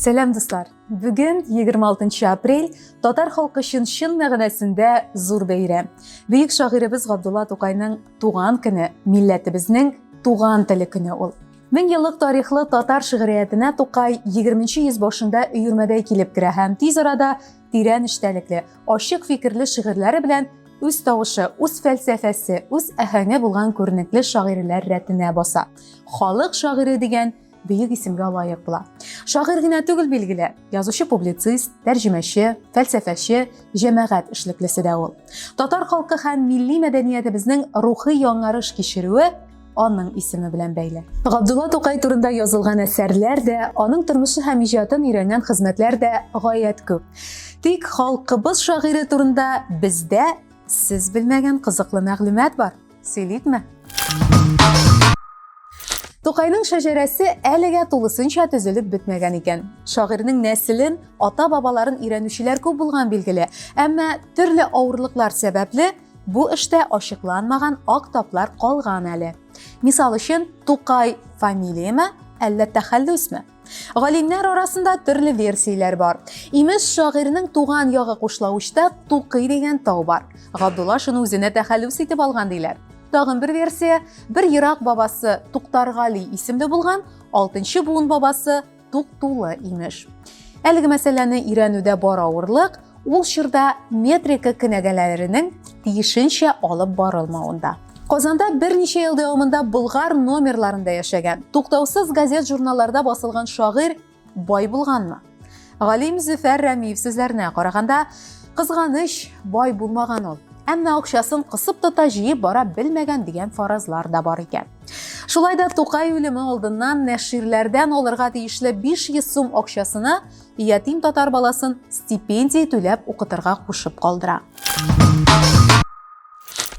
Сәлам дуслар! Бүген 26 апрель татар халкы өчен чын мәгънәсендә зур бәйрәм. Бөек шагыйребез Габдулла Тукайның туган көне, милләтебезнең туган теле көне ул. Мең еллык тарихлы татар шигъриятенә Тукай 20 йөз башында өермәдәй килеп керә һәм тиз арада тирән эчтәлекле, ачык фикерле шигырьләре белән үз тавышы, үз фәлсәфәсе, үз әһәңе булган күренекле шагыйрьләр рәтенә баса. Халык шагыйре дигән бөек исемгә лаек була. Шагыйрь генә түгел билгеле, язучы-публицист, тәрҗемәче, фәлсәфәче, җәмәгать эшлеклесе дә ул. Татар халкы һәм милли мәдәниятебезнең рухи яңарыш кичерүе аның исеме белән бәйле. Габдулла Тукай турында язылган әсәрләр дә, аның тормышы һәм иҗатын өйрәнгән хезмәтләр дә гаять күп. Тик халкыбыз шагыйре турында бездә сез белмәгән кызыклы мәгълүмат бар. Сөйликме? Тукайның шәҗәрәсе әлегә тулысынча төзелеп бетмәгән икән. Шагыйрьнең нәселен, ата-бабаларын өйрәнүчеләр күп булган билгеле, әмма төрле авырлыклар сәбәпле Бу эштә ачыкланмаган ак таплар калган әле. Мисал өчен, Тукай фамилияме, әллә тәхәллүсме? Галимнәр арасында төрле версияләр бар. Имеш, шагыйрьнең туган ягы Кушлавычта Тукый дигән тау бар. Габдулла шуны үзенә тәхәллүс итеп алган диләр. Тагын бер версия, бер ерак бабасы Туктаргали исемле булган, 6 буын бабасы тук-тулы, имеш. Әлеге мәсьәләне өйрәнүдә бар авырлык ул чорда метрика кенәгәләренең тиешенчә алып барылмавында. Казанда берничә ел дәвамында Болгар номерларында яшәгән, туктаусыз газет-журналларда басылган шагыйрь бай булганмы? Галим Зөфәр Рәмиев сүзләренә караганда, кызганыч, бай булмаган ул. Әмма акчасын кысып тота, җыеп бара белмәгән дигән фаразлар да бар икән. Шулай да Тукай үлеме алдыннан нәширләрдән алырга тиешле 500 сум акчасына ятим татар баласын стипендия түләп укытырга кушып калдыра.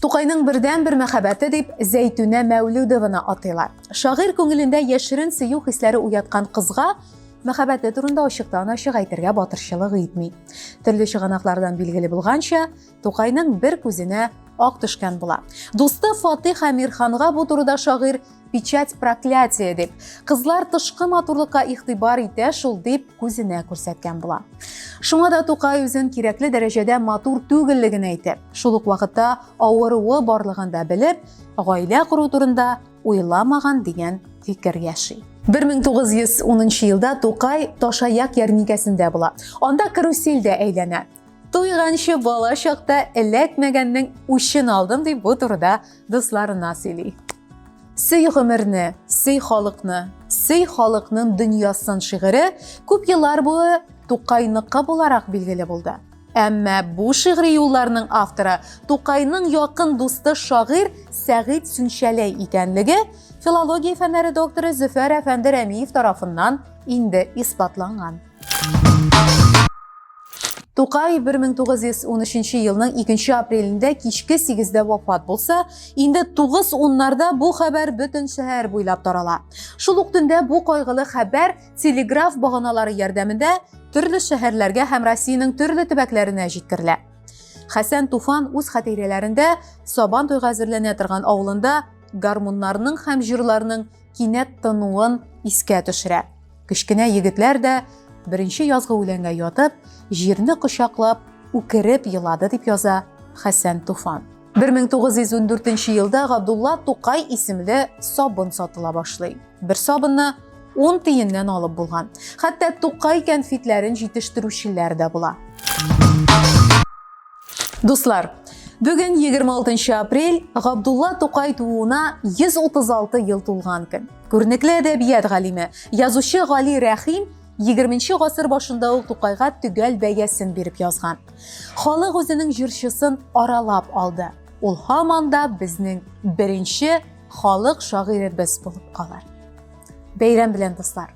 Тукайның бердән бер мәхәббәте дип Зәйтүнә Мәүлүдованы атыйлар. Шагыйрь күңелендә яшерен сөю хисләре уяткан кызга мәхәббәте турында ачыктан ачык әйтергә батырчылык итми. Төрле чыганаклардан билгеле булганча, Тукайның бер күзенә ак төшкән була. Дусты Фатих Әмирханга бу турыда шагыйрь печать проклятия дип, кызлар тышкы матурлыкка игътибар итә шул дип күзенә күрсәткән була. Шуңа да Тукай үзен кирәкле дәрәҗәдә матур түгеллеген әйтеп, шул ук вакытта авыруы барлыгын да белеп, гаилә кору турында уйламаган дигән фикер яши. 1910 елда Тукай Ташаяк ярминкәсендә була. Анда карусель дә әйләнә. Туйганчы бала чакта эләкмәгәннең үчен алдым дип бу турыда дусларына сөйли. Сөй гомерне, сөй халыкны, сөй халыкның дөньясын шигыре күп еллар буе Тукайныкы буларак билгеле булды. Әмма бу шигъри юлларның авторы Тукайның якын дусты шагыйрь Сәгыйть Сүнчәләй икәнлеге филология фәннәре докторы Зөфәр әфәнде Рәмиев тарафыннан инде исбатланган. Тукай 1913 елның 2 апрелендә кичке 8-дә вафат булса, инде 9 уннарда бу хәбәр бөтен шәһәр буйлап тарала. Шул ук төндә бу кайгылы хәбәр телеграф баганалары ярдәмендә төрле шәһәрләргә һәм Россиянең төрле төбәкләренә җиткерелә. Хәсән Туфан үз хатирәләрендә Сабан туйга әзерләнә торган авылында гармуннарның һәм җырларның кинәт тынуын искә төшерә. Кечкенә егетләр дә беренче язгы үләнгә ятып, җирне кочаклап, үкереп елады, дип яза Хәсән Туфан. 1914 елда Габдулла Тукай исемле сабын сатыла башлый. Бер сабынны 10 тиеннән алып булган. Хәтта Тукай кәнфитләрен җитештерүчеләр дә була. Дуслар, бүген 26 апрель Габдулла Тукай тууына 136 ел тулган көн. Күренекле әдәбият галиме, язучы Гали Рәхим 20 гасыр башында ул Тукайга төгәл бәясен биреп язган. Халык үзенең җырчысын аралап алды. Ул һаман да безнең беренче халык шагыйребез булып калыр. Бәйрәм белән, дуслар!